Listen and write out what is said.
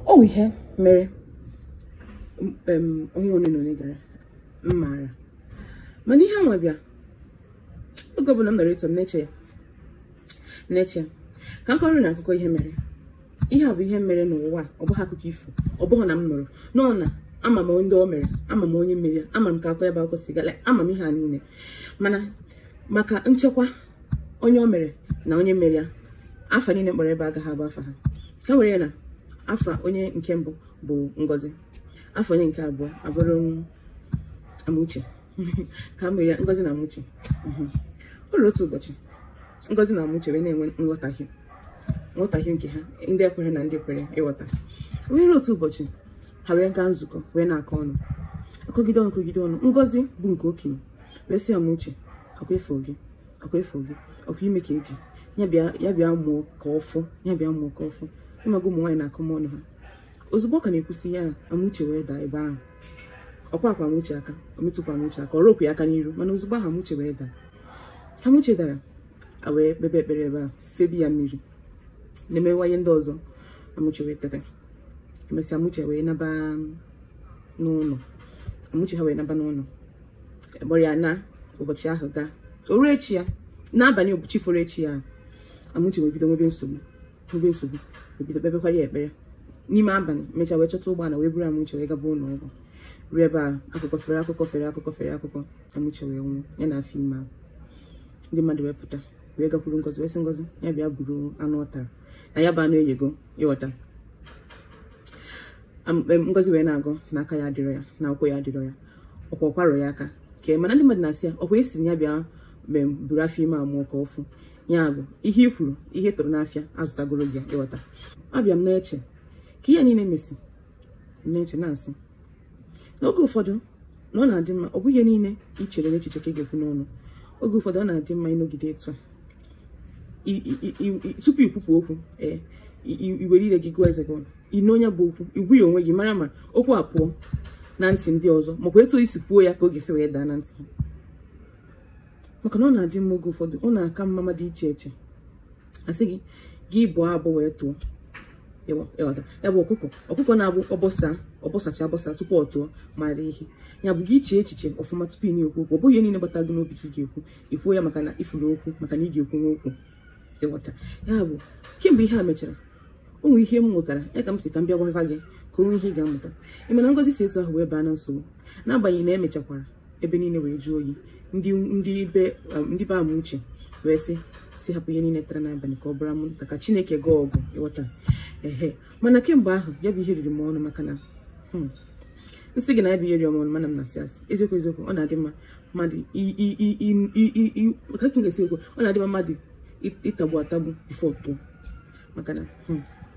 o nwe ihe mere onye one na onye gara m maara mana ihe nwa bịa oge ọbụla m nọrọ etu a m na-eche ya na-eche ka m kọọrọ unu akụkọ ihe mere ihe a bụ ihe mere n'ụwa ọ bụghị akụkọ ifo ọ bụghị na m nụrụ n'ọnụ ama m ndị o mere ama m onye mere ya ama m ka akọ ya bụ akụkọ si gala ama m ihe a niile mana maka nchekwa onye o mere na onye mere ya afa niile m kpọrọ ebe a agaghị abụ afa ha ka e were ya na afa onye nke mbụ bụ ngozi afa onye nke abụọ abụrụ amuche ka mere ya ngozi na amuche mhm. o ruru otu ụbọchị ngozi na amuche wee na-enwe nghọtahie nghọtahie nke ha ndị ekwere na ndị kwere ịghọta wee ruo otu ụbọchị ha wee gaa nzukọ wee na-akọ ọnụ akọgide ọnụ kọgide ọnụ ngozi bụ nke okenye wee sị amuche ọkwa efu gị ọkwa efu gị ọkwa ime ka eji ya bịa ya bịa mụọ ka ọ fụ ya bịa mụọ ka ọ fụ ị maga ụmụ nwaanyị na akọmọnụ ha ozugbo ọ ka na-ekwusi ya amuche wee daa ebe ahụ ọ kwaakwa amuche aka o metụkwa amuche aka ọ rụọkwa ya aka n'iru mana ozugbo ahụ amuche wee daa ka amuche dara e wee kpebe ekpere ebe a febe ya mmiri na-emewa ihe ndị ọzọ amuche wee teta emesịa amuche wee naba n'ụlọ amuche ha wee naba n'ụlọ akpọrọ ya na ụbọchị ahụ gaa o ruo echi ya n'abalị ụbọchị foro echi ya Amuche wee bido nwebe nsogbu nwebe nsogbu e bido kpebekwara ya ekpere n'ime abalị mechaa wee chọta ụgbọala wee buru Amuche wee gaba ụlọ ọgwụ ruo ebe a akụkọ fere akụkọ fere akụkọ fere akụkọ Amuche wee nwụọ ya na afọ ime ahụ ndị mmadụ wee pụta wee gakwuru ngozi wee sị ngozi ya bịa buru anụ ọ tara na ya bụ anụ eyego ịghọta Am- em, ngozi wee na-agọ na aka ya adịrọ ya na ụkwụ ya adịrọ ya ọkwa ọ kwarọ ya aka ka e mana ndị mmadụ na-asị ya ọkwa ị sị ya bịa buru afọ ime a mụọ ka ọ fụ ya bụ ihe i kwuru ihe ị tụrụ n'afịa a zụtagoro gị ya ịghọta abịa m na-eche ka ihe niile mesịa m na-eche na-asị n'oge ụfọdụ na ọ na-adị mma ọ bụghị ihe niile i chere n'echiche ka ị ga-ekwu n'ọnụ oge ụfọdụ ọ na-adị mma ịnọgide etu a I- i- i- i- tupu ikwupụ okwu ee i- i- i were ire gị gụọ eze gị ọnụ i nee ya bụ okwu ị gwa ya onwe gị mara ma okwu a pụọ na ntị ndị ọzọ makwa etu i si kwuo ya ka ọ ga-esi wee daa na ntị ha maka na ọ na-adị mma oge ụfọdụ ọ na-aka mma mmadụ iche eche a sị gị gị bọọ abọ wee tụọ ya bụ ọkụkọ ọkụkọ na-abụ ọ bọsa ọ bọsacha abọsa tupu ọ tụọ mara ihe ya bụ gị chee echiche ọfụma tupu ị na-ekwu okwu ọ bụghị ihe niile gbata gị n'obi ka ị ga-ekwu ikwuo ya maka na ị fụrụ okwu maka na ị ga-ekwunwu okwu ịghọta ya bụ kemgbe ihe a mechara o nwere ihe m mụtara ya ka m si ka m bịa gwakwa gị ka o nwee ihe ị ga-amụta ị ma na ngozi si etu ahụ wee baa na nsogbu n'agbanyeghị na e mechakwara ebe niile wee jụọ oyi ndị ndị be um, ndị be amuche wee sị si hapụ ihe niile tara n'abalị ka ọ bụrụ anwụnta ka chineke gọọ ọgụ ị ghọta ehe mana kemgbe ahụ ya bụ ihe riri m ọnụ maka na hmm, m sị gị na ya bụ ihe riri m ọnụ mana m na-asị asị eziokwu eziokwu ọ na-adị mma mmadụ ka m ga-esi ekwu ọ na-adị mma mmadụ ịtagbu atagbu before tụọ maka na hmm.